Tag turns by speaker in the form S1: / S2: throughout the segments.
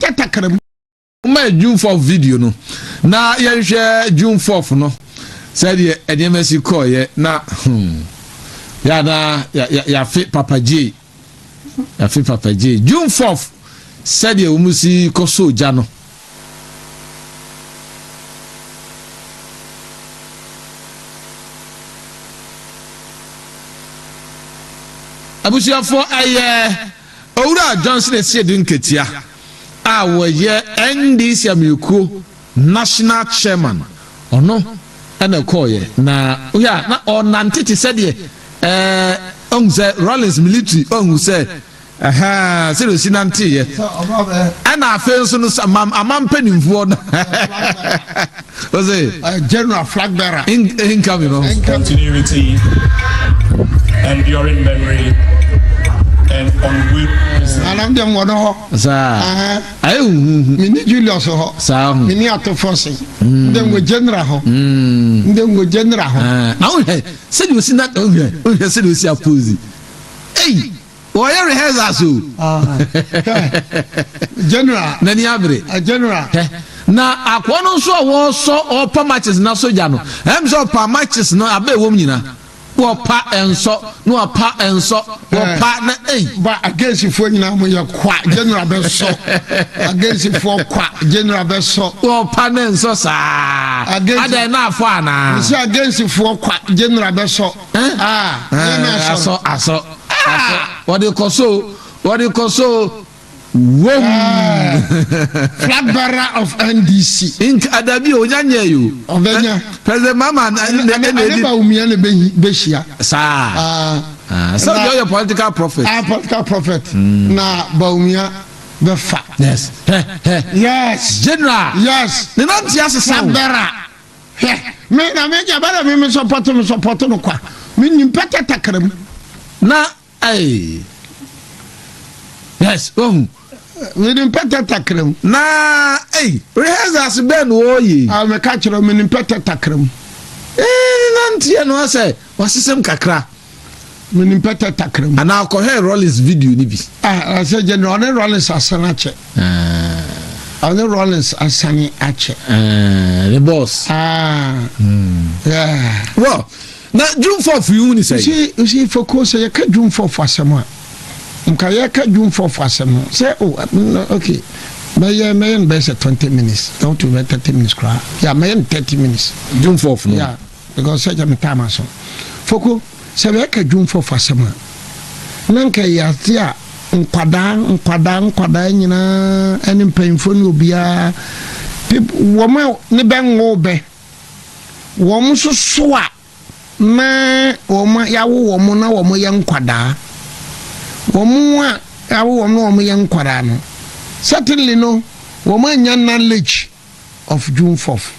S1: Yɛ takra mu ma
S2: June 4 video no na yɛnhwɛ June 4 no sɛdeɛ nneɛma si kɔɔyɛ na hmm, yɛ na yɛafe Papa J yɛafe Papa J June 4 sɛdeɛ wɔn si kɔ so gya no abusuafoɔ ɛyɛ Owura Johnson asie de nketea a wɔyɛ NDC amanyɔkuo National Chairman ɔno na ɛkɔɔeɛ na wohwɛ a na ɔrenante te sɛ deɛ ɛɛ ɔhu sɛ Rawlings military ɔhu sɛ ɛhɛɛ sɛ deɛ ɔsi nanteeɛ ɛna afei nso no ama mpanimfoɔ no Ɔse General flag
S1: bearer in incoming no.
S3: Continuity enduring memory and unwavering. Anam deɛ mewɔ no
S1: hɔ. Saa.
S2: Ayɛ huhuhu. Mini
S1: Julius hɔ. Saa ho. Mini Atofosi. Ndɛ mewɔ General hɔ. Ndɛ mewɔ General hɔ. Na wohwɛ
S2: sɛdeɛ osi na wohwɛ wohwɛ sɛdeɛ osi apose. Ei! Wɔyɛ rehearsals o.
S1: N'ani abere. Hɛ,
S2: na akoa no nso a wɔsɔ ɔrepa matches no asogya no, ɛyɛ me sɛ ɔpaa matches no aba a ɛwom nyinaa. Wɔpa, ɛnsɔ, na wɔpa, ɛnsɔ, wɔpa, na ei! Ba, Agensifoɔ
S1: nyinaa moyɛ kwa, General bɛsɔ. Agensifoɔ kwa, General bɛsɔ. Wɔpa na ɛnsɔ
S2: saa. Agensi. Adɛn, na afɔ anaa? Mese Agensifoɔ
S1: kwa, General bɛsɔ. Asɔ asɔ asɔ
S2: wɔde kɔ so o wɔde kɔ so o wom.
S1: Flag bearer of NDC. Nka adabi o onya
S2: nyɛ yi o. Ɔbɛnya. President Mahama na na na edi. Ɛneba Wumia
S1: na bɛ bɛ hyia. Saa.
S2: Sɛ ɔdi ɔyɛ political prophet. Ah political prophet.
S1: Na Bawumia bɛ fa. Yes.
S2: Yes.
S1: General.
S2: Yes. Ne nan ti
S1: ase sa
S2: o. Flag bearer.
S1: Hwɛ, me na me gya bɛrɛ me me sɔpɔto me sɔpɔto no kwa me nim pɛtɛ takara mu na
S2: ɛɛ yes ohun me nim
S1: pɛtɛ takara mu na
S2: ɛɛ rehearsals bɛn na ɔɔyɛ. a me ka kyerɛ me
S1: nim pɛtɛ takara mu. ɛɛ
S2: na ntiɛ no asɛ. Wasesem kakra. Menim
S1: pɛtɛ takra mu. Anaa kɔhwɛ Rollins
S2: video no bi. Ah ɛsɛ gye no
S1: ɔne Rollins asane akyɛ. Ah. Ɔne Rollins asane akyɛ. Ah the
S2: boss. Ah. Hmm.
S1: Yeah.
S2: Well, na Jumfof yi hu ni sɛ. Usi usi foko
S1: sɛ yɛka Jumfof asɛm a. Nka yɛka Jumfof asɛm no sɛ o oh, okay. Mɛyɛ mɛyɛ no bɛyɛ sɛ twenty minutes. Ɛwɔ to bɛ thirty minutes koraa. Yeah, mɛyɛ no thirty minutes. Jumfof no. Yeah.
S2: Because sɛ gya
S1: me time aso. Foko, sɛ yɛka Dwumfɔfo asɛm a, na nka ɛyɛ ade a nkwadaa, nkwadaa, nkwadaa nyinaa ne mpanyimfoɔ ne obiara, peop, wɔn a ne bɛ nwoo bɛ, wɔn nso so a na wɔn a yɛawo wɔn na wɔn yɛ nkwadaa, wɔn a yɛawo wɔn na wɔn yɛ nkwadaa no, certainly no, wɔn anya knowledge. of June fourth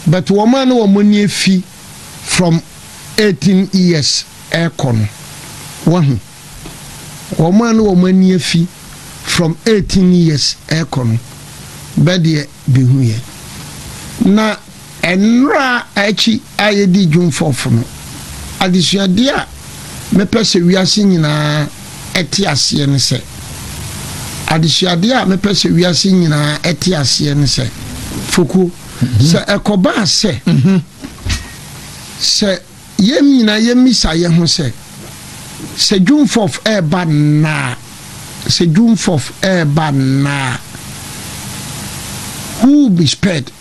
S1: but wɔn a na wɔn ani afi from eighteen years rekɔ no wahu wɔn a na wɔn ani afi from eighteen years rekɔ no bɛdeɛ behu yɛ na. Nnora akyi a yedii June fourth no, adesuade a mepɛ sɛ wiase nyinaa te aseɛ ne sɛ, adesuade a mepɛ sɛ wiase nyinaa te aseɛ ne sɛ, Fokuo, sɛ ɛkɔbaa sɛ, sɛ yɛn nyinaa yɛmmisa yɛn ho sɛ, Sɛ June fourth reba nnɛ a, sɛ June fourth reba nnɛ a, who will be spared?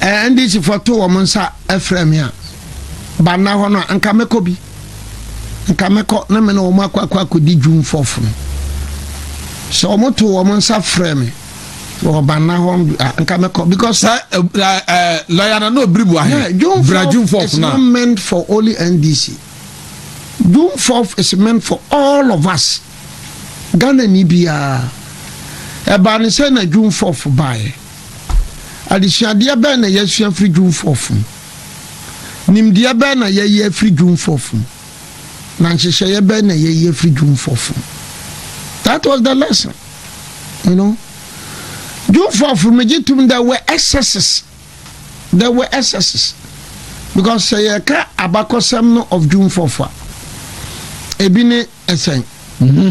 S1: eh, NDC foɔ to wɔn nsa frɛ me a banna hɔ no a nka mɛkɔ bi nka mɛkɔ na me na wɔn akɔ akɔ akɔdi dwum fɔfo no sɛ wɔn to wɔn nsa frɛ me wɔ banna hɔ a nka mɛkɔ because. sɛ ɛɛ
S2: lɔya na n'o biri bu ahe bira dwum fɔfo
S1: na. it's not meant for only NDC dwum fɔfo is meant for all of us Ghana ni biara ɛbaa ne sɛ na dwum fɔfo baayɛ. Adesuadeɛ bɛn na yɛasua afiri Jewfoɔ fam? Nimdeɛ bɛn na yɛayi afiri Jewfoɔ fam? Na nhyehyɛeɛ bɛn na yɛayi afiri Jewfoɔ fam? That was the lesson. You know? Jewfoɔ fam megye tom there were excesses. There were excesses. Because sɛ yɛka abakɔsɛm no of Jewfoɔ fo a, ebi ne ɛsɛn. Mm-hmm.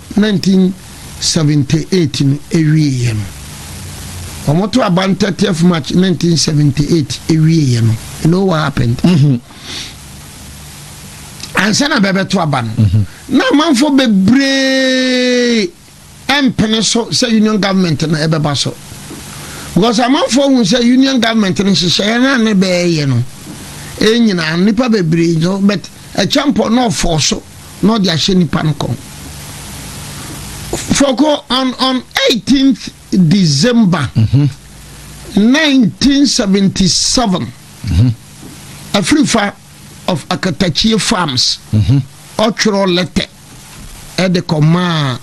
S1: 1978 no awieɛ no, wɔto aba no 30th March 1978 awieɛ no, you know what happened? Mm-hmm. Ansa na bɛbɛto aba no, mm-hmm. na amanfoɔ bebree ɛmpene so sɛ union government no ɛbɛba so. Because amanfoɔ hu sɛ union government no nhyehyɛeɛ no a ne bɛɛyɛ no, ɛnyinaa nnipa bebree no, but ɛkyɛmpɔ na ɔfɔɔ so. na ɔde ahyɛ nnipa no kɔn. Fɔkɔ on on 18th December 1977 afirifa of Akatachie farms ɔtwerɛ lɛtɛ ɛde kɔmaa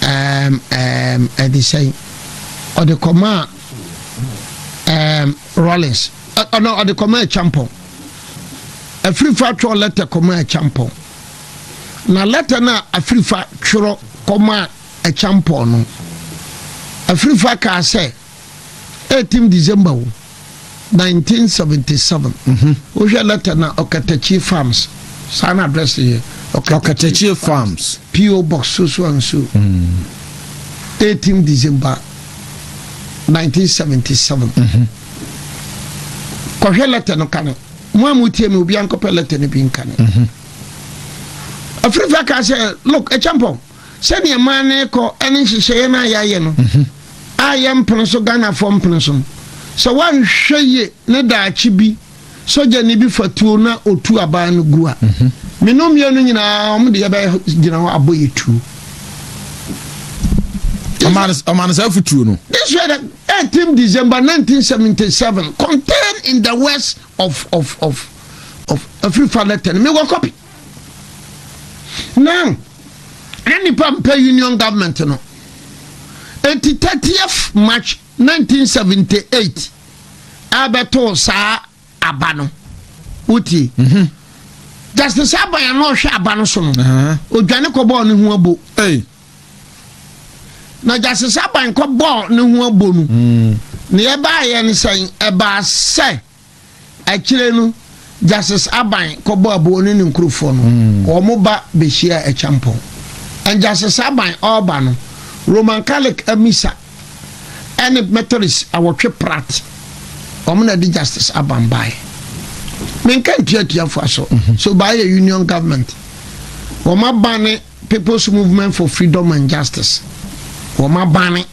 S1: ɛɛm ɛɛm ɛde sɛn ɔde kɔmaa ɛɛm Rawlings. Ana ɔde kɔma Akyampɔn. Afirifa twerɛ lɛtɛ kɔma Akyampɔn. Na lɛtɛ no a Afirifa twerɛ kɔma Akyampɔn no, Afirifa kaa sɛ 18 December o, 1977. Mhm. Wohwɛ lɛtɛ no a, Ɔkatakyie Farms, saa na address no yɛ. Ɔkatakyie
S2: Farms. PO Box Sosoa
S1: Nsuo, 18 December 1977. Mhm. kɔhwɛ lɛtɛ no kane mo a motie me obiara nkɔpɛ lɛtɛ no bi nkane mhm. afirifi aka sɛ lok ɛkyɛmpɔn sɛdeɛ maa no kɔ ɛne nhyehyɛeɛ no a yɛayɛ no mhm. a yɛmpene so ghanafoɔ mpene so no sɛ woanhwɛ yie ne daakye bi sogyani bi fa tuo na ɔtu aban no gu a, me no mmienu nyinaa wɔn de yɛbɛgyina hɔ abɔ yɛ tuo.
S2: Ɔmaa no saa afotuo no. This was
S1: the 18 December 1977 contained in the west of of of of every father ten me wɔ copy. Now, na nipa mpɛ union government no. Eti 30th March 1978 ɛbɛtoo saa aba no wotie mhm. justice aban a na ɔhwɛ aba no so no odwane kɔbɔɔ ne ho abo na justice aban kɔbɔɔ ne ho abo no mm. na yɛbaayɛ no sɛn ɛbaa sɛ Akyire no, Justice Aban kɔbɔɔ aboɔ ne ne nkurofoɔ no, wɔn ba bɛhyiaa Acheampong. And Justice Aban ɔreba no, Roman Catholic Missa ne Methodist awɔtwe prat, wɔn na ɛde Justice Aban baeɛ. Menka ntua atuafoɔ so, so baayɛ Union Government, wɔn abane People's Movement for Freedom and Justice, wɔn abane.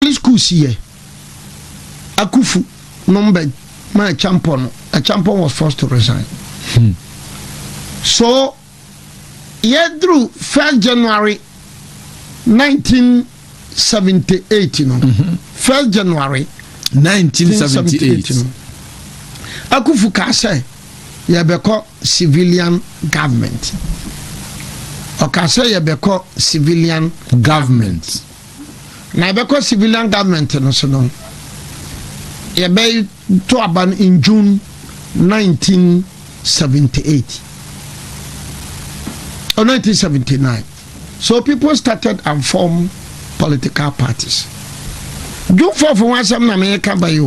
S1: Holy school si yɛ Akufu nom bɛ ma Acheampong no, Acheampong was forced to resign. Hmm. So, yɛ duru first January 1978 no, mm -hmm. first January 1978 no, Akufu kaa sɛ yɛbɛkɔ civilian government. Ɔkaa sɛ yɛbɛkɔ civilian government. government. Na yɛbɛkɔ civilian government no so no yɛbɛto aba no in June 1978 or 1979 so people started and form political parties. June 4 fo ho asɛm na meyɛka ba yi o.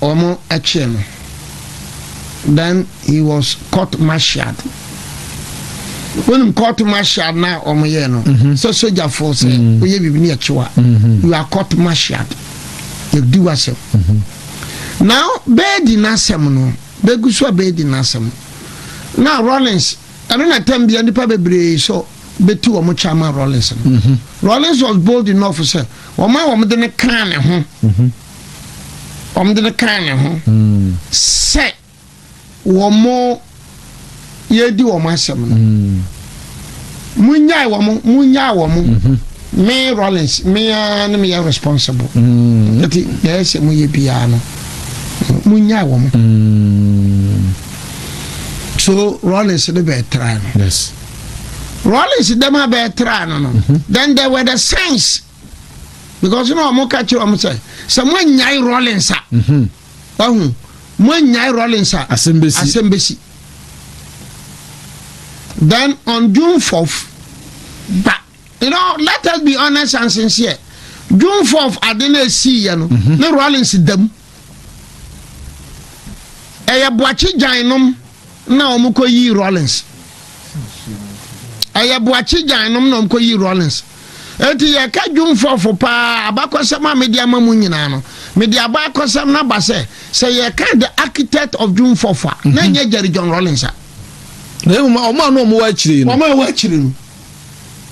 S1: Wɔkyere no, then he was court martialed. Wonim court martial na wɔyɛ no mhm. sɛ sojafoɔ sɛ mhm. woyɛ biribi ne yɛkye wa. Mhm. You are court martialed. Yɛdi w'asɛm. Na bɛɛdi n'asɛm no, bɛgu so a bɛɛdi n'asɛm. Na Rollins, ɛno na tam bia nnipa bebree sɛ bɛti wɔn kya ma Rollins no. Rollins was bold enough sɛ wɔn a wɔde no kaa ne ho. wɔde no kaa ne ho sɛ wɔn yɛredi wɔn asɛm no monnyae wɔn monnyae wɔn mhm. me rollins mea ne meyɛ responsible mhm. nti deɛ ɛsɛ moyɛ biara no monnyae wɔn mhm. so rollins ne bɛɛtra no
S2: rollins
S1: dɛm a bɛɛtra no no then there were the signs because na wɔn ka kyerɛ wɔn sɛ sɛ mo anyae rollins a mhm. wahu mo anyae rollins a asɛm bɛsi then on june fourth ba you know let us be honest and sincere june fourth ade na esi yɛ no mhm. ne rollins dam. ɛyɛ boakye gyan nom na wɔn kɔ yi rollins ɛyɛ boakye gyan nom na wɔn kɔ yi rollins eti yɛ ka dwom fɔfo paa abakɔsɛm a mede ama mu nyinaa no mede abakɔsɛm na ba sɛ sɛ yɛ ka the architect of dwom fɔfo a na nyɛ jerry john rollins a. na emu
S2: ma wɔn a na wɔn wɔ akyire no. wɔn a wɔn akyire no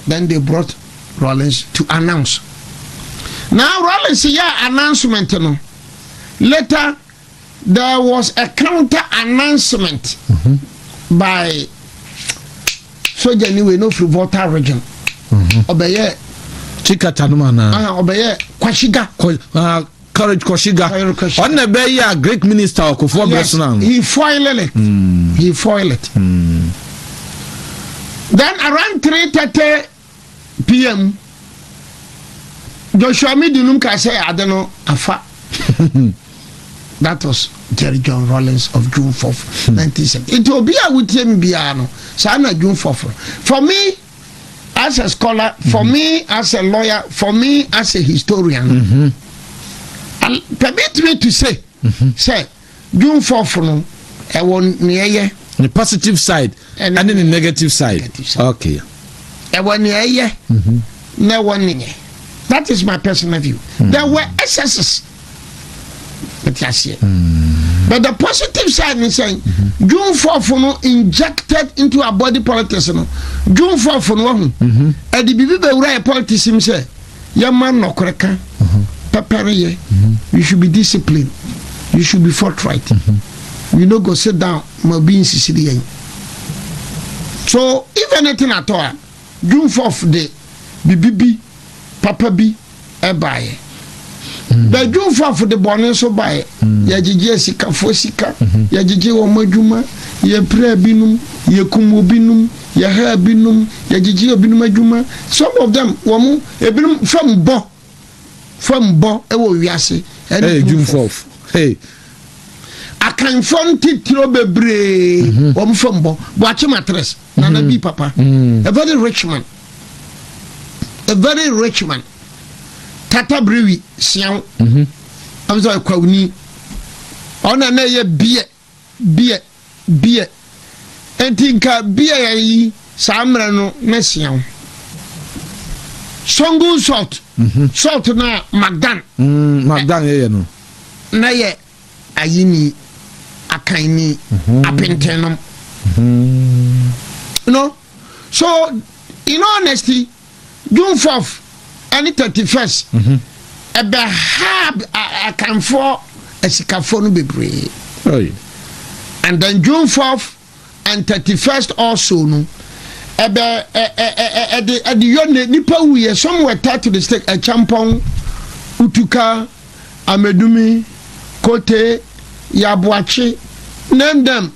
S1: then they brought. Rawlings to announce. Na Rawlings yɛɛ announcement no, later there was a counter announcement mm -hmm. by soja ni wei no firi volta region ɔbɛyɛ mm -hmm. chikata
S2: no ma na ɔbɛyɛ kwashiga Courage Koshiga, ɔno na ɛbɛyɛ a Greek minister wɔ Kufuor bere so no ano. He foiled it.
S1: Mm. He foiled it. Mm. Then around 3:30 p.m. Joshua Midu num ka sɛ ade no afa. That was Jerry John Rawlings of June 4th, 1970. Nti obi a wotie mi biara no, saa na June 4th. For me, as a scholar for mm -hmm. me as a lawyer for me as a historian mm -hmm. and permit me to say mm -hmm. sɛ june fourth no ɛwɔ nea ɛyɛ. ne
S2: positive side ɛne ne negative side okay. ɛwɔ
S1: nea ɛyɛ na ɛwɔ nea that is my personal view mm -hmm. there were excesses. ɛte aseɛ mm. but the positive side ne sɛn mm-hmm. june fɔfo no injected into our body politics no june fɔfo no wahu mm-hmm. ɛde biribi bɛwura yɛ politics mu sɛ yɛma nnɔkorɛ ka mm-hmm. pɛpɛreyɛ you should be disciplined you should be forthright you no go sit down ma obi nsisiri yɛn so if anything at all Dwumfoɔf de bibi bi papa bi baeɛ. Bɛ dwumfoɔf de bɔne nso baeɛ. Yɛgyegye asikafoɔ sika, yɛgyegye wɔn adwuma, yɛpiraa binom, yɛkum obinom, yɛhaa binom, yɛgyegyee obinom adwuma. Some of them, wɔn, ebinom fam bɔ. fam bɔ wɔ wiase ne Jumfof. Akanfoɔ ntitiro bebree mhm. wɔn fam bɔ Boakye Matres mhm. Nana Bi papa mhm. a very rich man a very rich man Tata Brewi Siaw ɛmu sɛ Kwawuni ɔna na ɛyɛ beer Beer, beer. Enti nka beer yɛn yi saa mmerɛ no na sia wo. Songun salt, mhm. salt na magdan. Mm, magdan yɛ
S2: yɛ no. Na yɛ
S1: ayini, akanni, mhm. apentenom. Mm. No, so in honesty. June fourth ɛne thirty first ɛbɛ haa akanfoɔ asikafoɔ no bebree and then June fourth and thirty first also no ɛbɛ ɛde ɛde yɔ ne nipa wuyɛ some were tied to the stake ɛkyɛmpɔn utuka amedumi kote yaboakye name them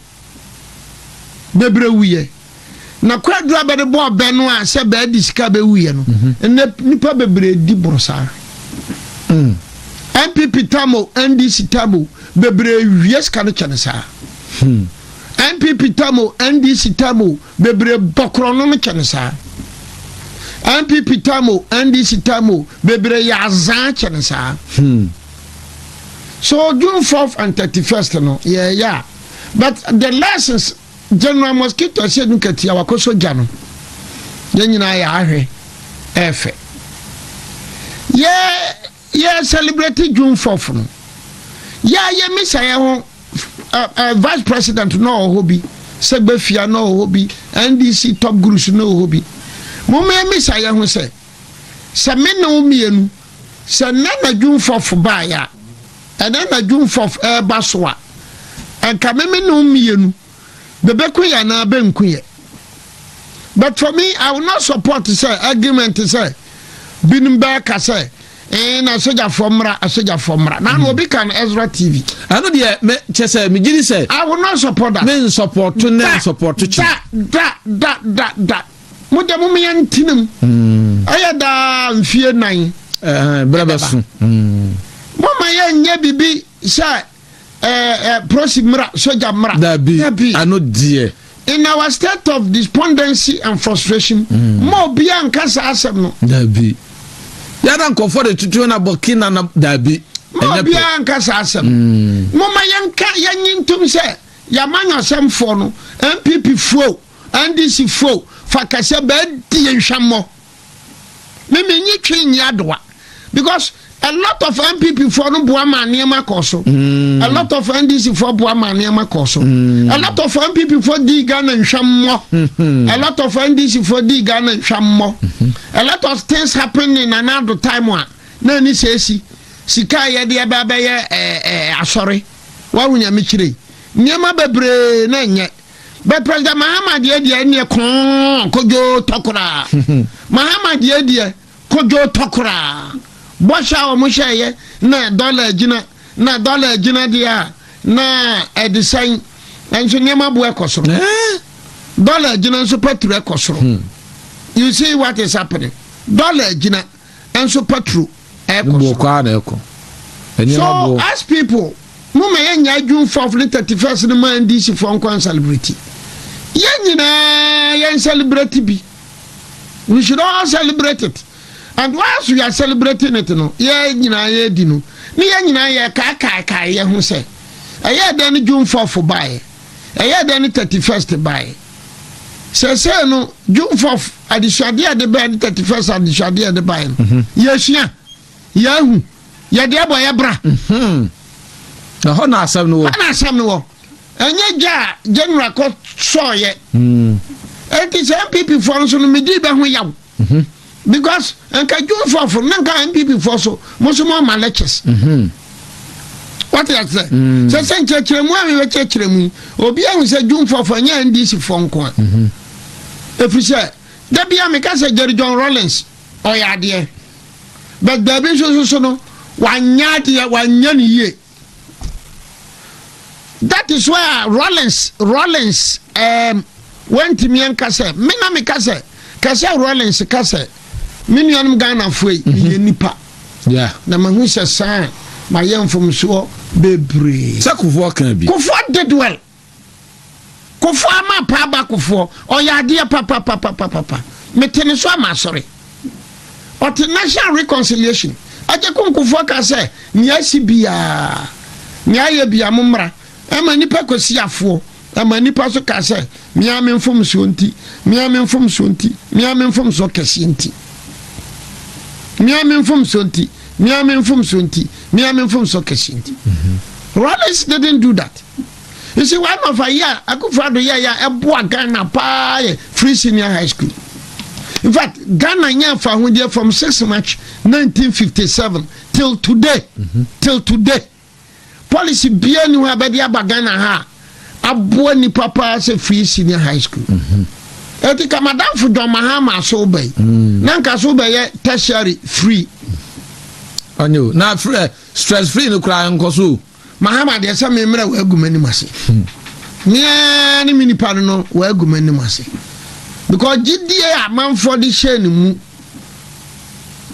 S1: bɛbrɛ wuyɛ na kwadu a bɛde bɔɔ bɛ no a sɛ bɛadi sika bɛwuyɛ no mhm. ɛnɛ nnipa bebree di borɔ saa npp hmm. tam o ndc tam o bebree wie sika no kyɛne saa npp hmm. tam o ndc tam o bebree bɔkorɔ no no kyɛne saa npp tam o ndc tam o bebree yɛ azaa kyɛne saa hmm. so june 4 and 31 no yɛɛyɛ a but the lessons general mosquito ɛsɛ ɛnu katia wakɔ sogya no yɛn nyinaa yɛ ahwɛ ɛfɛ yɛ yɛ celebrate june fourth no yɛ yɛ misa yɛ ho ɛɛ vice president na ɔwɔ hɔ bi sɛ gbɛfia na ɔwɔ hɔ bi ndc top gurus na ɔwɔ hɔ bi mo mo yɛ misa yɛ ho sɛ sɛ me na wo mmienu sɛ nna na june fourth baayɛ a. Ɛnɛ na Dwumfoɔ reba so a, anka me me nom mmienu, bɛbɛku yɛ anaa bɛnku yɛ. But for me, I will not support sɛ argument sɛ binom bɛɛka sɛ ee na asogyafoɔ mmra, asogyafoɔ mmra. Na na obi ka no Ezra TV. Ɛno deɛ me
S2: kyɛ sɛ megye di sɛ. I will not support that. Me
S1: nsɔpɔto ne
S2: nsɔpɔto kyi. Da da da da
S1: da. Mo deɛ mom yɛ ntena mu. Ɛyɛ daa mfie nan. Berɛ bɛso. Moma yɛ nyɛ bibi sɛ prosi mmra, sogya mmra. Dabi, ano
S2: deɛ. In our state
S1: of despondency and frustration, ma obiara nka saa asɛm no. Dabi.
S2: Yɛda nkɔfoɔ de tutu na bɔki na na dabi. Ma obiara
S1: nka saa asɛm. Moma yɛnka yɛnyi ntom sɛ yɛama nyɔsɛmfoɔ no, NPP foɔ. NDC fo fa kɛsɛ bɛ die nhwɛmmɔ. Me me nye twe nye adoa because a lot of NPP fo no boa ma nneɛma kɔ so. Mm. A lot of NDC fo boa ma nneɛma kɔ so. Mm. A lot of NPP fo di Ghana nhwɛmmɔ. Mm -hmm. A lot of NDC fo di Ghana nhwɛmmɔ. Mm -hmm. A lot of things happening na na do time a na ani sɛ esi sika a yɛde ɛbɛ abɛyɛ ɛɛ eh, ɛɛ eh, asɔre. Wahu nyame kyerɛ yi. Nneɛma bebree na nyɛ. But President Mahama deɛ deɛ ɛneɛ kɔn kodwoo tɔ koraa. Mahama deɛ deɛ kodwoo tɔ koraa. Bɔhyɛ a wɔn hyɛɛyɛ na dɔla agyina na dɔla agyina deɛ a na ɛde sɛn nso nneɛma bo ɛkɔ soro. Dɔla agyina nso petro ɛkɔ soro. You see what is happening? Dɔla agyina. nso patro ɛkɔ so. So as people mo ma yɛn nyaa June 4th ne 31st no ma NDC foɔ nkɔ nsalibreti. Yɛn nyinaa yɛn nsalibreti bi. We should all celebrate it. And whilst we are celebrating it no, yɛn nyinaa yɛ di no. Ne yɛn nyinaa yɛ kaakaakae yɛ ho sɛ. Ɛyɛ dɛn ne June 4th baeɛ? Ɛyɛ dɛn ne 31st baeɛ? sɛsɛɛ no june fourth adesuadeɛ a yɛde bae ne thirty first adesuadeɛ a yɛde bae no mhm. yɛsua yɛahu yɛde abɔ yɛ bra mhm.
S2: na hɔ na asɛm no wɔ hɔ na asɛm no wɔ
S1: ɛnyɛ gya a general kɔ sɔɔyɛ ɛnti mhm. sɛ npp foɔ no so no medii bɛ ho yaw Mhm. Because nka Joshua fo na nka NPP fo so mo so mo ama lectures. Mhm. Wate ase. Mm. Sɛ sɛ nkyerɛkyerɛ mu a mi bɛ kyerɛkyerɛ mu yi obi ahu sɛ Joshua fo ɛnyɛ NDC fo nko a. Mhm. Efiri sɛ dabi a mi ka sɛ Jerry John Rawlings ɔyɛ adeɛ but baabi nso nso so no wanyɛ adeɛ wanyɛ ne yie. that is why uh, rollins rollins um, wantumi anka sɛ me na meka sɛ ka sɛ rollins ka sɛ me nuanom ghanafoɔ yi mhm. yɛ nipa na
S2: mahu sɛ
S1: saa mayɛ mfomsoɔ bebree sɛ kofoɔ ka bi
S2: kofoɔ did well
S1: Kofo ama pa aba kofoɔ ɔyɛ adeɛ papapapapapa mete ne so ama asɔre ɔte national reconciliation agye ko nkofoɔ ka sɛ nea asi biaa nea ayɛ bia mo mmra ɛma nipa kɔsi afoɔ ɛma nipa so ka sɛ mea me mfomsoɔ nti mea me mfomsoɔ nti mea me mfomsoɔ kɛseɛ nti mea me mfomsoɔ nti me ara me mfomso nti me ara me mfomso kɛse nti Rawlings didn't do that you see one of a year akufo ado yɛ yɛ ɛboa Ghana paa yɛ free senior high school in fact Ghana nyɛ afa ahodeɛ from six March 1957 till today mm -hmm. till today. policy biara nni hɔ a bɛde aba Ghana ha a aboa nnipa paa sɛ free senior high school. Ɛti mhm. ka madamfo John Mahama so ba yi. Mm. Na nka so bɛyɛ tertiary free.
S2: Ɔne o na frɛ eh, stress free no koraa nkɔ so. Mahama deɛ sɛ me
S1: mmerɛ wɔ agu m'anim ase. Hmm. Meaa ne me nipa no no wɔ agu m'anim ase. Because gyidie a manfoɔ de hyɛ ne mu.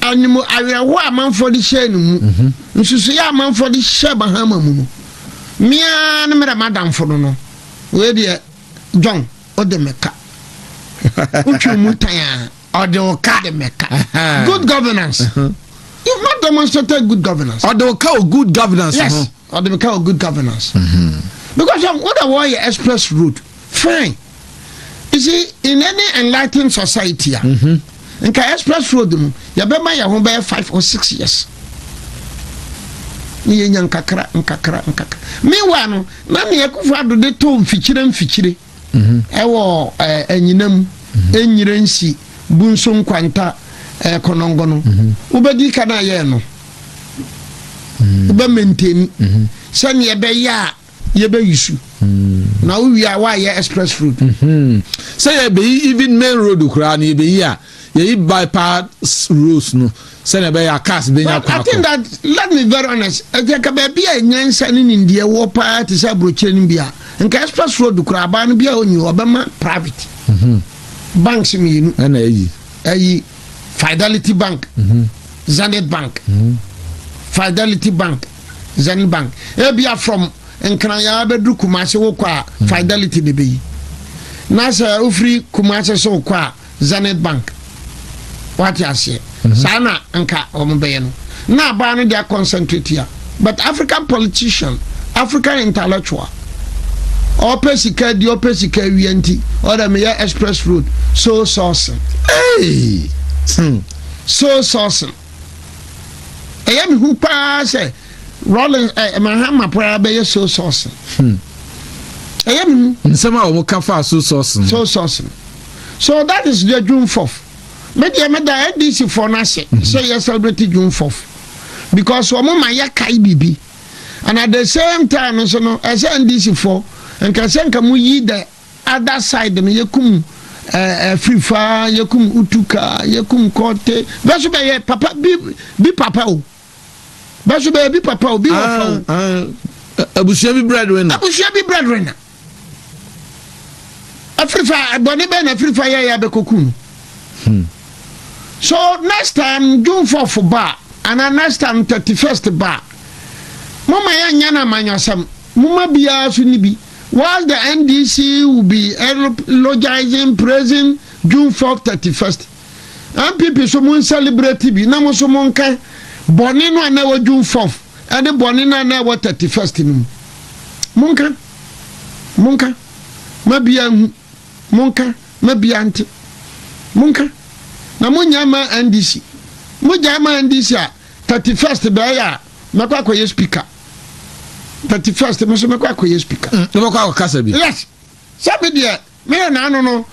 S1: anim awerɛhoɔ a amanfoɔ de hyɛɛ ne mu, nsusuiɛ a amanfoɔ de hyɛɛ Mahama mu no, me ara ne merɛ m'adamfo no no, wei deɛ John wode me ka. Wotwe mu tan a, ɔde wo ka de me ka. Good governance. You've not demonstrated good governance. Ɔde wo ka wɔ good governance
S2: ho. Yes, ɔde me ka wɔ
S1: good governance. Because wọ́n dẹ̀ wọ́n yẹ express road fine. isi in any enlightened society a nka express road mu yɛbɛma yɛn ho bɛyɛ five or six years ne yɛnya nkakra nkakra nkakra meanwhile no na ne akufo ado de tɔ mfikyire mfikyire ɛwɔ anyina mu ɛnyire nsi bu nso nkwanta kɔnɔngɔ no wobɛdi ka no ayɛɛ no wobɛmɛntɛni sɛneɛ ɛbɛyɛ a yɛbɛyi su na wowie a woayɛ express road sɛ
S2: yɛbɛyi even main road koraa no yɛbɛyi a yɛyi bypass roads no sɛnea ɛbɛyɛ a cars bɛnya kwan I think that let
S1: me very honest ɛkyɛ ka baabi a nyansa ne nimdeɛ wɔ paa te sɛ aburokyerɛ no bi a nka express road koraa abaa no bi a ɔnyi hɔ ɔbɛma private mhm. banks mmienu ɛna ayi
S2: ayi
S1: fidelity bank mhm. zenith bank mhm. fidelity bank Zenith Bank. Ebia from Nkranya bɛduru Kumasi wokɔ a hmm. Fidelity na ɛbɛyi. Na sɛ wofiri Kumasi so wokɔ a Zenith Bank. Wate aseɛ. Mhm. Saa na nka wɔn bɛyɛ no. Na abaa no deɛ concentrate ya. But African politician, African intellectual, ɔpɛ sika di ɔpɛ sika awia nti ɔdɛ meyɛ express road so sourcing. Hey!
S2: Hmm.
S1: So sourcing. Ɛyɛ me hu paa sɛ Rollins ɛ eh, Mahama paa bɛyɛ soy sauce. Hmm. Ɛyɛ me hu. Nsɛm a wɔn ka fa
S2: soy sauce no. Soy sauce no.
S1: So that is the June fourth. Me deɛ me da NDC foɔ no ase mhm. sɛ yɛ celebrate June fourth because wɔn ma yɛ kae biribi and at the same time nso no ɛsɛ NDC foɔ nka sɛ nka mo yi the Other side no yɛkum afirifa, yɛkum utuka, yɛkum kɔɔte. Bɛ so bɛyɛ papa bi bi papa o. Bɛ so bɛyɛ bi papa o, bi wɔ fa o. Ah, ah,
S2: abusua bi breadwinner. Abusua bi breadwinner. Afirifa, ɛbɔne bɛn na afirifa yɛ yɛ abɛkɔku no. Hmm. So next time June 4th ba ana next time 31st ba. Mama yɛnyɛ no amanyɔsɛm. Moma biara so ni bi. While the NDC will be eulogizing, praising June fourth, thirty first, NPP nso mo nsɛlibreti bi na mo nso mo nka bɔne no a na ɛwɔ June fourth ɛne bɔne no a na ɛwɔ thirty first no mu. Mo nka, mo nka ma biaa nhu, mo nka ma biaa nte. Mo nka na mo nnya mma NDC. Mo gyae ma NDC a, thirty first bɛɛyɛ a, mɛkɔ akɔyɛ speaker thirty first mi nso mɛkɔ akɔyɛ speaker. Mm, wobɛkɔ akɔkasa bi. yes sɛ
S1: me deɛ meyɛ naano no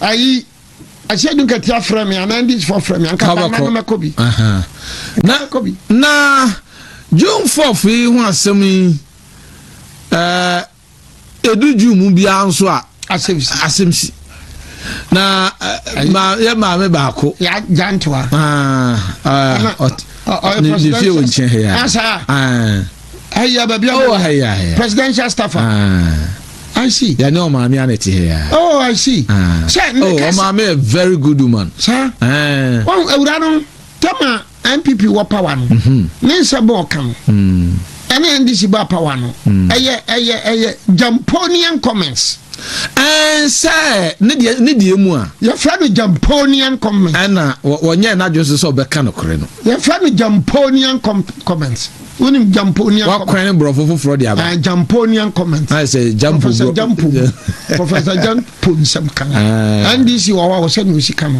S1: ayi ɛsɛ du nkɛte afrɛ me anaa ndi fɔ frɛ me anka bama no
S2: mɛkɔ bi. na na june fourth yi ho asɛm yi ɛɛ. Edu June mu biara nso a. Asɛmsi. Asɛmsi. Na ma yɛ maame baako. Yɛ agyantewa. Ne fie wɔ nkyɛn ha yi. Asa.
S1: Ɛyɛ baabi a. Ɔwɔ ha yi. Presidential staffer. I see. Yɛne ɔmaame a na ɛte
S2: ha ya. Oh, I see. Ah.
S1: Sɛ ne oh, kasa. Oh, ɔmaame
S2: a very good woman. Sa. Ɛɛ.
S1: Wɔn awura no. Tam a NPP wɔ power no, ne nsa bɔɔ ka no, ɛna NDC baa power no, ɛyɛ ɛyɛ ɛyɛ Jamponian comments. Ɛn sɛ ne deɛ ne
S2: deɛ mu a. Yɛfrɛ no Jamponian
S1: comments. Ɛna wɔnyɛ
S2: n'adwene so sɛ ɔbɛka no kore no. Yɛfrɛ no
S1: Jamponian comments. Wonim Jamponian comments. Wakwan ne borɔfo foforɔ
S2: de aba. Jamponian comments.
S1: Ayɛ sɛ Jampo. Professor
S2: Jampo.
S1: Professor Jampo nsɛm kan. NDC wɔ hɔ a wɔsɛ na osi ka no.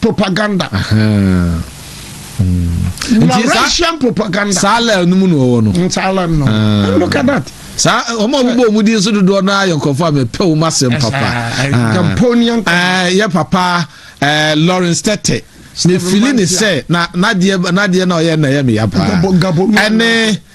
S1: propaganda. Laurentian propaganda. saa lɛl no mu na ɔwɔ
S2: no. saa lɛl no ah.
S1: look at that. saa eh, wɔn a wɔbɔ
S2: wɔn din so dodoɔ no ayɛ nkurɔfoɔ a mɛpɛ wɔn asɛm papa. gamponian. Ah. Eh, yɛ
S1: papa
S2: eh, lawrence tete mefili ne sɛ na nadeɛ na ɔyɛ na ɛyɛ meya paa ɛne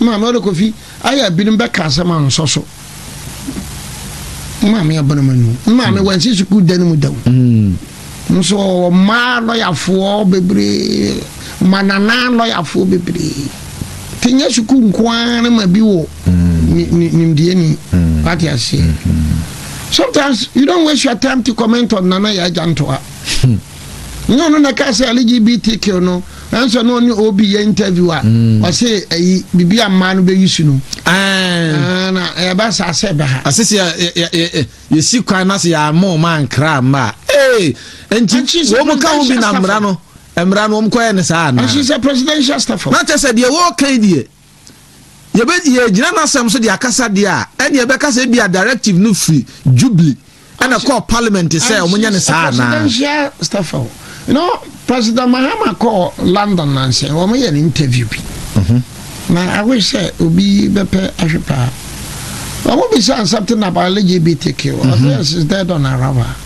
S2: Maame
S1: ɔde kofi ayɛ a binom bɛka asɛm a nsɔ so maame abana ma nu maame wansi sukuu da no mu da o nso ɔwɔ mmaa lɔyafoɔ bebree ma nanaa lɔyafoɔ bebree te nyɛ sukuu nko ara no ma bi wɔ nimdeɛ ni wate aseɛ sometimes you don't waste your time to comment on nana yɛ agya ntoa nyɛ ɔno na ɛka sɛ lgbtq no ɛnsɛ na ɔne ob yɛ interview a mm. ɔse ɛyi biribi a mmaa no bɛyi su no na ɛbɛ saa sɛ ɛbɛ ha asese
S2: yɛsi kwan no ase yɛama ɔma ankra mma a nti wɔm ka ho bi na mmara no mmara no wɔm kɔyɛ ne saa anaa presidential
S1: staff na kyɛ sɛ deɛ wɔɔka
S2: yi deɛ yɛbɛ yɛgyina n'asɛm so de akasa deɛ a ɛne ɛbɛka sɛ ebi a directive no firi jubilee ɛna ɛkɔɔ parliament sɛ wɔn nyɛ ne saa anaa. presidential staffer o
S1: you know president mahama kɔɔ london nansɛ wɔn yɛ ne interview bi mhm. na awo sɛ obi bɛpɛ ahwɛ paa wɔn bi sɛ something about lgbtq ɔsɛ mhm. is dead on arrival.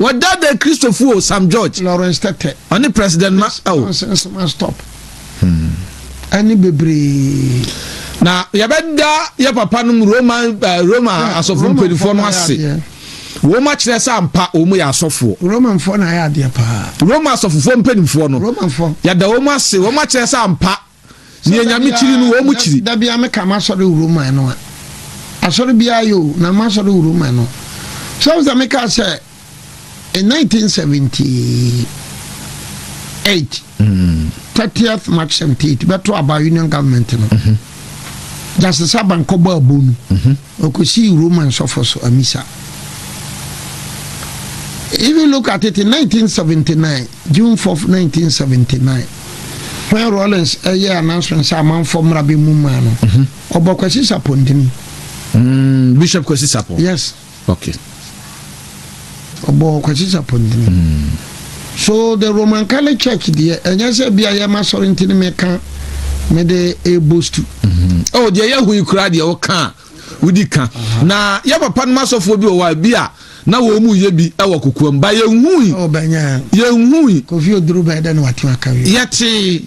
S2: Wɔdaadaa Kristofo o, Sam George. Lawrence Tete. Ɔne
S1: President Ma
S2: o. Johnson Nsema Stop.
S1: Ɛne bebree. Na
S2: yɛbɛda yɛ papa nom Roma eh, Roma asɔfo mpanyinfoɔ no ase wɔn akyerɛ sɛ ampa wɔn yɛ asɔfoɔ. romanfoɔ na ayɛ adeɛ
S1: paa. roma asɔfofoɔ
S2: mpanyinfoɔ no yɛda wɔn
S1: ase wɔn
S2: akyerɛ sɛ ampa Nea Nyame kyiri no, wɔn kyiri. Da biara meka m'asɔre
S1: wuro man no a, asɔre biara yɛ o, na m'asɔre wuro man no. So wohu sɛ mekaa sɛ in 1978, 30th March 78, bɛto aba Union Government no, Justice Aban kɔbɔ abonu. Ɔkɔsii Roma nsɔfoɔ so amisa. Even look at it in 1979, June 4, 1979, when Rawlings ɛyɛ announcement sɛ amanfoɔ mmra bɛ mu maa no, ɔbɔ Kwasi Sapɔ ntini. Mm,
S2: Bishop Kwasi Sapɔ? Yes. Okay. ɔbɔɔ
S1: kwakyikya pɔntene hmm. so the roman catholic church deɛ ɛnyɛ sɛ bia yɛma sɔre nti no meka mede ɛbostu hmm. oh, deɛ
S2: yɛho yi koraa deɛ woka a wodi ka na yɛ papa nom asɔfoɔ bi wɔ hɔ a bi a na wɔn mu yɛ bi wɔ kokoam ba yɛnhui oh,
S1: yɛnhui yɛtee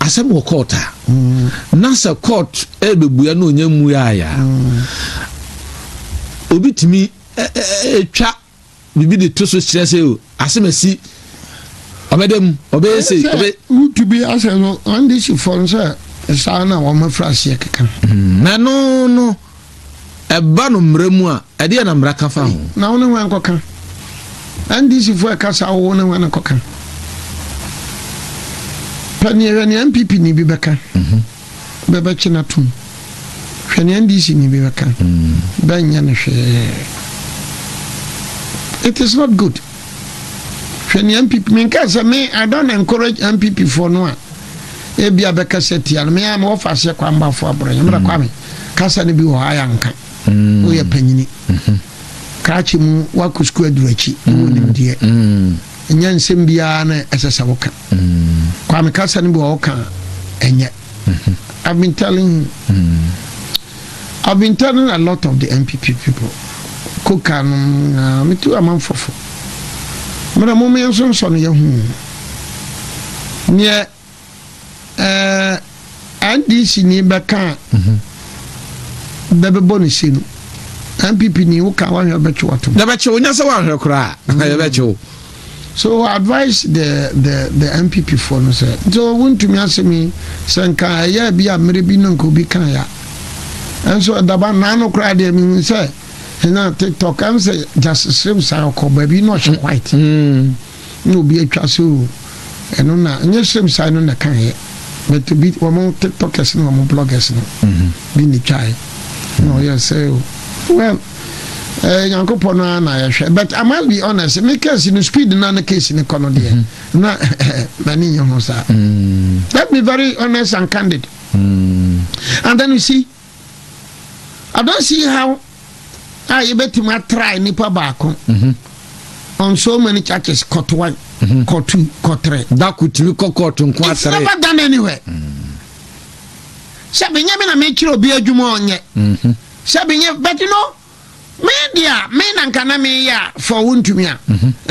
S2: asɛm wɔ court a na sɛ court ɛrebɛbua na ɔnya mmuaeɛ a obi tumi twa biribi de to so kyerɛ sɛ o asɛm asi ɔbɛda mu ɔbɛyɛ sei wotu bi
S1: asɛ no andehyifoɔ no sɛ saa na wɔmafiri aseɛ keka na no
S2: no Ɛba no mmara mu a, ɛdeɛn na mmara ka fa ho? Na wo ne hwan kɔka?
S1: NDC foɔ ɛka saa wo ne hwan na kɔka? Pɛ neɛ hwɛ neɛ NPP ni bi bɛka mhm. bɛbɛkye no atom hwɛ neɛ NDC ni bi bɛka mm. bɛnyɛ no hwee it is not good hwɛ neɛ NPP menka sɛ me I don't encourage NPP foɔ no a ebi a bɛka sɛ tia no me a mewɔ faaseɛ kwan bafo aborɔ yɛmmerɛ mm. kwame kasa no bi wɔ hɔ ayɛ anka mm. woyɛ panyini mm-hmm. krakye mu woakɔ sukuu aduru akyi mm. wɔ nimdeɛ ɛnyɛ nsɛm biara na ɛsɛ sɛ woka kwame kasa no bi wɔ woka ɛnyɛ mm-hmm. I've been telling you. Mm. I've been telling a lot of the MPP people. Koka no, me too, I'm unfulfilled. Mmerɛ mo mmea nso nsɔ no yɛ ho neɛ ɛɛ NDC ni bɛka a bɛbɛbɔ ne se no NPP ni wo ka wahwɛ bɛtwe watom. Na bɛkye wo nyɛ sɛ wahwɛ
S2: koraa na yɛ bɛkye wo. So
S1: advice the the the NPP foɔ no sɛ nti wontumi asɛm yi sɛ nka ɛyɛ bi a mmerɛ bi no nka obi ka ya ɛnso ɛdaba naano koraa deɛ mehu sɛ ɛna TikTok ɛm sɛ gyasesrem saa ɔkɔ baabi na ɔhyɛ white. Mm. na obi atwa so o, ɛno na nyɛ Sremsae no na ɛkaeɛ but obi wɔn tiktokers ne wɔn bloggers no bi na ɛtwaeɛ na ɔyɛ sɛ o well ɛɛ nyankopɔn no ara na yɛhwɛ but I must be honest me case no speed na ne case no kɔ no deɛ na m'ani nyɛ ho saa let me very honest and candid and then you see Adanse yi haw a yɛbɛtumi atra nipa baako mhm. on so many churches kɔtowan mhm. kɔtu kɔtrɛ dako tumi kɔ
S2: kɔɔto nko it's never done anywhere
S1: mm. sɛ benyɛ me na mekyerɛ obi adwuma ɔnyɛ mhm. sɛ benyɛ but you know Me deɛ a, me na nka na meyɛ a fɔ wo ntumi a.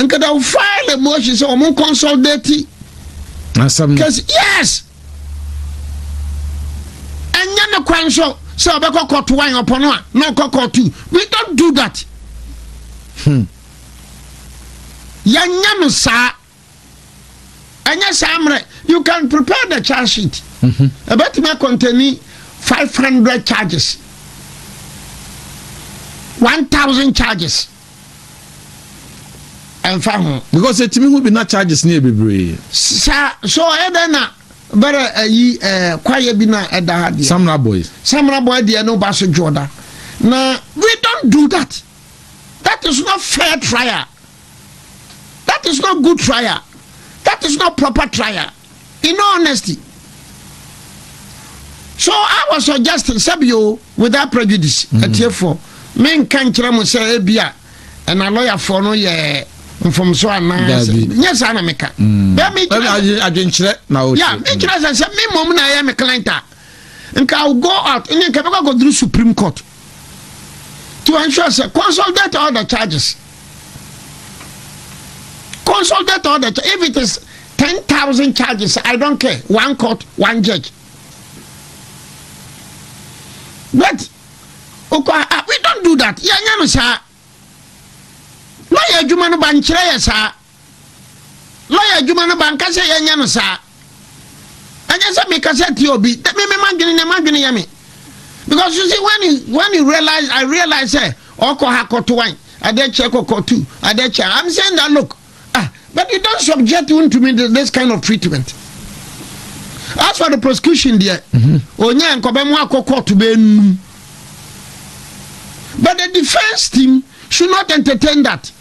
S1: Nka da wo file motion sɛ wɔn consolidate. Asɛm no. Yes! Ɛnyɛ ne kwan so sɛ ɔbɛkɔ kɔto wan ɔpɔ no a na ɔkɔ kɔto. We don't do that. Hmm. Yɛnyɛ no saa. ɛnyɛ saa mmerɛ you can prepare the charge sheet ɛbɛtumi mhm. akɔntani 500 charges 1000 charges ɛmfa ho because ɛtumi ho bi na
S2: charges ne yɛ bebree saa so
S1: ɛdɛn na bɛrɛ ayi ɛɛ kwayɛ bi na ɛda ha deɛ samra boy
S2: samra boy deɛ no ba so dwoɔ
S1: da na we don't do that that is not fair trial that is not good trial that is not proper trial in all honesty so i was suggesting sɛbi o without prejudice mm. atiefoɔ menka nkyerɛ mo sɛ ebi a ɛna lɔyafoɔ no yɛ mfomso anaasɛ nyɛ saa na meka mm.
S2: adwenkyerɛ na wote ya mekyerɛ sɛ sɛ
S1: me mmom na ɛyɛ me client a nka go out ne nka bɛkɔ akɔduru supreme court nti wɔnhwɛ sɛ consolidate all the charges consolidate all the charges if it is ten thousand charges i don't care one court one judge but okwa ah, we don't do that yɛnyɛ no saa na yɛ adwuma no ba nkyerɛ yɛ saa Lɔya adwuma no, manka sɛ yɛnyɛ no saa. Ɛnyɛ sɛ mekasa atia obi, na me me madwene ne madwene yɛ me. Because you see, when you, when you realize, I realize sɛ ɔkɔ ha kɔto wan, adeɛ kyɛ kɔkɔ tu, adeɛ kyɛ. I'm saying that look, ah, but you don't subject me to me this kind of treatment. As for the prosecution deɛ, mm-hmm. onyaa nkɔbɛ mu akɔ kɔɔto bɛɛ num. But the defense team should not entertain that.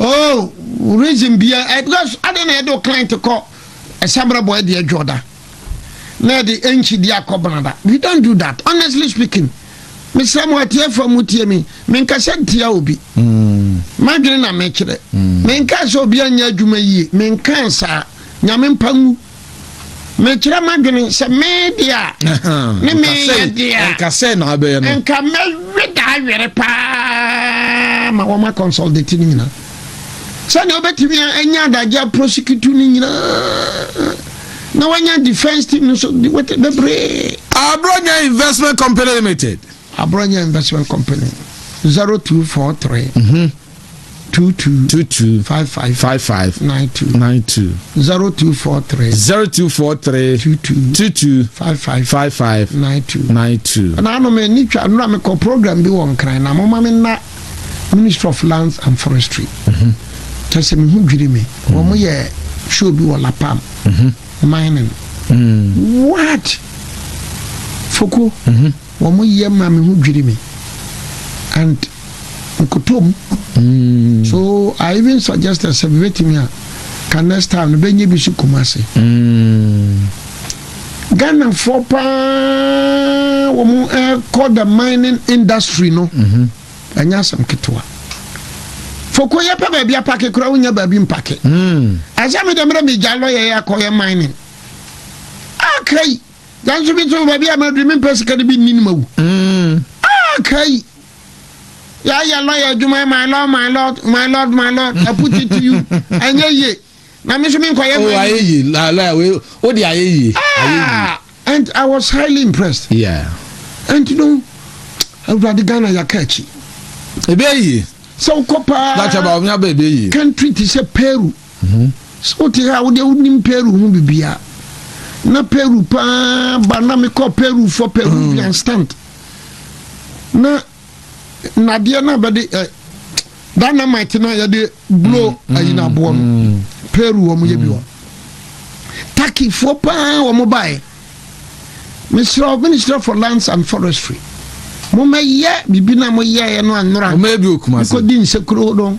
S1: Oh reason bia eh, because adɛn na yɛde wo client kɔ ɛsamra bɔ ɛde adwo da na yɛde ɛnkyi di akɔ banada we don't do that honestly speaking mesrɛ mo atiefoɔ mu tie me menkasa ntia obi mm. madwene na mekyerɛ mm. menkaa sɛ obi anyɛ adwuma yie menkaa saa nyame mpa ngu Mekyerɛ m'adwene sɛ me dea ne meyɛ dea. Nka sɛ na abɛyɛ no.
S2: Nka mɛwe daa
S1: were paa ma wɔn akɔnsɔltete no nyinaa. Sɛdeɛ wobɛtumi anya adagye aprosikitu no nyinaa na wanya defense team no so bebree. Abronya
S2: Investment Company Limited. Aborɔnyɛ
S1: Investment Company, zero two four three, two two, two two, five five,
S2: five
S1: five, nine
S2: two,
S1: nine
S2: two,
S1: zero two four three, zero two four three, two two,
S2: two two, five
S1: five, five
S2: five, nine two, nine two. Na ano me ni
S1: twa nura me kɔ program bi wɔ nkran na mo ma me na Ministry of Lands and Forestry. Kyɛ sɛ me ho dwiri me. Wɔn mo yɛ show bi wɔ Lapam. Mining. What? Foko. Wɔn yɛ ma me ho dwiri me and nkoto mu so I even suggested sɛ bebetumi a ka next time no bɛnyɛ bi so Kumasi. Ghanafoɔ paa wɔn ɛkɔ the mining industry no ɛnyɛ asɛm ketewa. Foko yɛ pɛ baabi apake koraa wonya baabi mpake. Asɛ me deɛ mmerɛ megya lɔyɛ yɛ akɔyɛ mining. Akra yi. Nanso bi nso baabi a maduru mempɛ sika no bi nni no ma wu. Mm. Ah, kai. Yɛayɛ lɔya adwuma yɛ my lord my lord my lord my lord I put it to you ɛnyɛ yie na me nso menkɔyɛ oh, ayɛ yie lɔya
S2: wei o de ayɛ yie ah and
S1: I was highly impressed yeah and you know awurade Ghana yɛaka akyi ebe yie
S2: sɛ wokɔ
S1: paa country
S2: te sɛ Peru
S1: ho. Sɛ wote ha a, wo deɛ wonim Peru ho biribiara. Na Peru paa ba na mekɔ Peru for Peruvian mm. stand. Na nadeɛ no bɛde eh, dynamite no a yɛde blow mm, ayi no aboɔ no mm. Peru wɔn yɛ bi wɔ. Turkeyfoɔ paa wɔn baeɛ. Mesrɛ Ministry for Lands and Forestry. Mommɛyɛ biribi na moyɛeɛ no anora. Mommɛyɛ bi wɔ Kumasi. Mekɔdi nsekuro no.